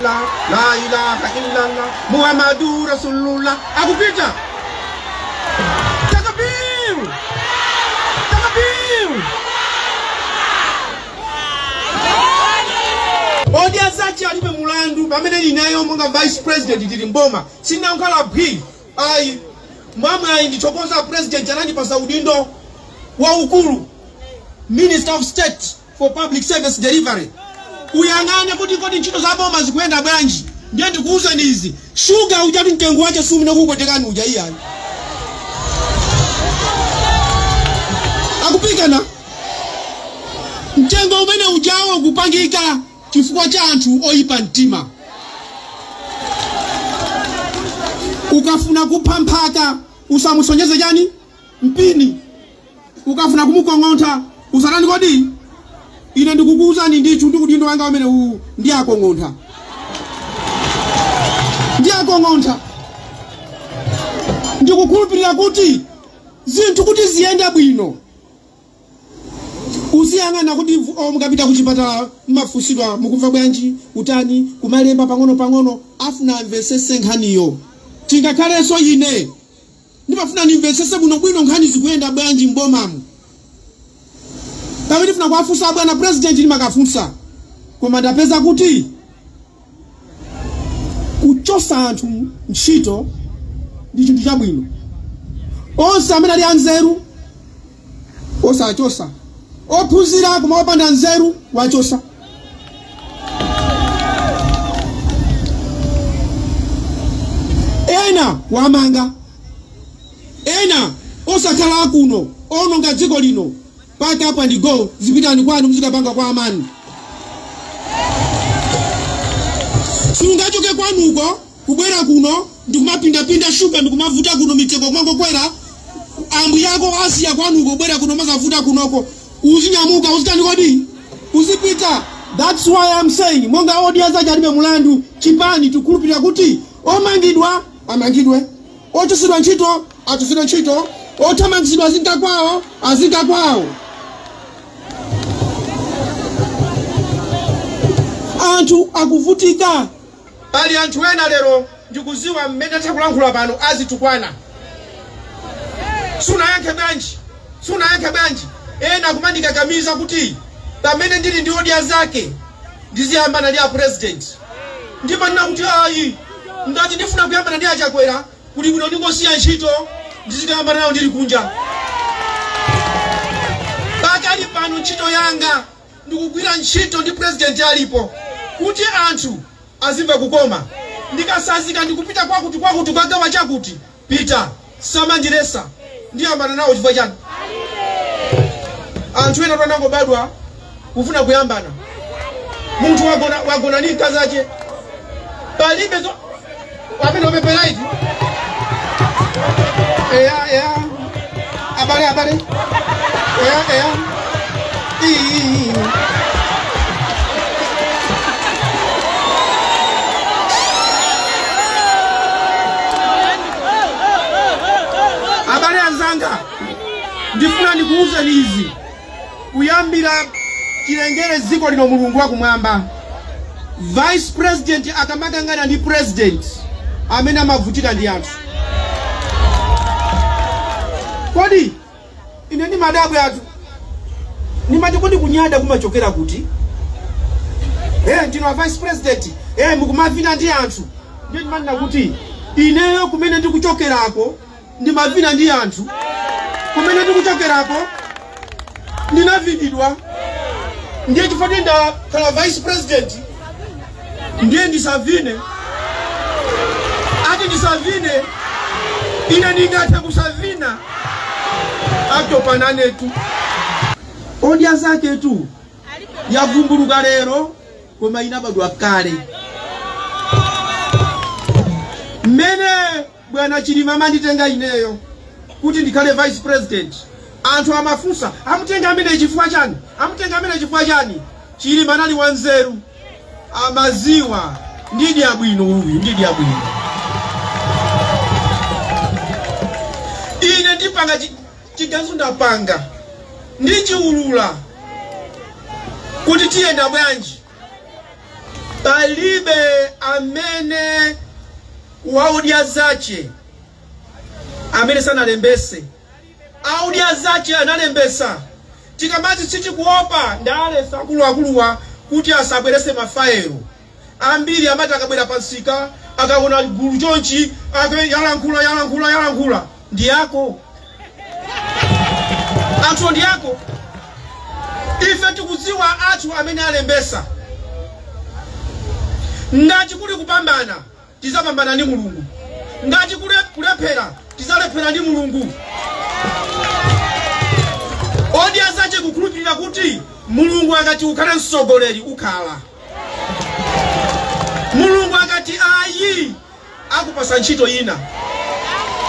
la la ilaha illallah muhammadu rasulullah akupita takbir takbir odya zake alibe mulandu pamene ineyo monga vice president tili mboma sinankhala phwi ayi mwamwayi ndithokoze president anandipasa udindo waukulu Minister of State for Public Service Delivery, uyang'ane kuti kodi ntchito za boma zikuyenda bwanji. Ndiye ndikuwuzeni izi, shuga ujatu mtengo wake simene ukuwonekera uja iyayi. Ukufika pa mtengo umene ujawo kupangika chifukwa cha anthu oyipa mtima. Ukafuna kupha mphaka usamusonyeze chani mpini ukafuna kumukong'ontha usatani kodi ine ndikukuwuzani ndithu ndi udindo wanga umene uwu ndiwakong'ontha ndiwakong'ontha ndikukhulupirira kuti zinthu kuti ziyende bwino uziyang'ana kuti vu- oh, mukapita ku chipatala mmafunsidwa mukumva bwanji utani kumalemba pang'ono pang'ono afuna amvetsetse nkhaniyo chingakhalenso ine Ndimafuna ndimvetsetse bwinobwino nkhani zikuyenda bwanji m'bomamu. Pamene ndifuna kuwafunsa abwana president ndimakafunsa koma ndapeza kuti kuchotsa anthu ntchito ndi chinthu chabwino. Onse amene ali anzeru osawachosa ophunzira koma opanda nzeru kuwachosa ena kuwamanga ena osakhala akuno ononga dziko lino pack up and go zipitani kwanu muzikapanga kwa amanu sungachoke kwanuko kubwera kuno ndikumapindapinda shuga ndikumavuta kuno mitengo kumangokwera ambuyako wasiya kwanuko kubwera kuno nkuzavuta kunoko uzinyamuka uzitani kodi uzipita that's why I'm saying monga odya zake alibe mulandu chipani tikhulupirira kuti omangidwa amangidwe ochosedwa ntchito achosedwa ntchito othamangitsidwa azinka kwawo azinka kwawo anthu akuvutika Pali anthu ena lero ndikuziwa mmene takulankhula pano azitukwana sunayankhe bwanji sunayankhe bwanji ena kumandikakamiza kuti pamene ndili ndi odya zake ndiziyambana ndi a president ndimanena kuti ayi ngati ndifuna kuyambana ndi a Chakwera kuli bwino ndingosiya ntchito ndizikayambana nawo ndili kunja pakali pano ntchito yanga ndikugwira ntchito ndi president alipo kuti anthu azimva kukoma ndikatsanzika ndikupita kwakuti kwakuti kukagawa chakuti pita samandiletsa ndiyambana nawo chifukwa chani anthu ena anangobadwa kufuna kuyambana munthu wagona ndi mkazi ache palibe zo- amene wapepera iti eya eya abale abale eya eya iyi abale anzanga ndifuna ndikuwuzeni izi Kuyambira chilengere dziko lino Mulungu wakumwamba vice president akamakangana ndi president amene amavutika ndi anthu. Kodi ine ndimadabwatu ndimati kodi kunyada kumachokera kuti? Eh, ndinu a vice president eh, mukumavina ndi anthu ndiye ndimanena kuti ineyo kumene ndikuchokerako ndimavina ndi anthu kumene ndikuchokerako ndinavinidwa ndiye chifukwa ndakhala vice president ndiye ndisavine ati ndisavine ine ndingathe kusavina atopa nanetu odya zake tu yavumbuluka lero koma inabadwa kale mmene Bwana Chilima amanditenga ineyo kuti ndikhale vice president anthu amafunsa amutenga ameneyi chifukwa chani? Amutenga ameneyi chifukwa chani? Chilima anali wanzeru amaziwa ndi Dyabwino uyu ndi Dyabwino ine ndipanga chiganizo ndapanga ndichiulula kuti tiyenda bwanji Palibe amene wa Odya zache amene sanalembese a Odya zache analembesa tikamati sitikuopa ndale za akuluakuluwa kuti asabwerese ma file ambiri amati akabwera pa msika akaona gulu chonchi ake yalankhula yalankhula yalankhula ndi yako anthuwo ndi yako ife tikudziwa athu amene alembesa ngati kuli kupambana tizapambana ndi mulungu ngati kuli kulephera tizalephera ndi mulungu odya zache kukhulupirira kuti mulungu akati ukhale mtsogoleri ukhala mulungu akati ayi akupasa ntchito ina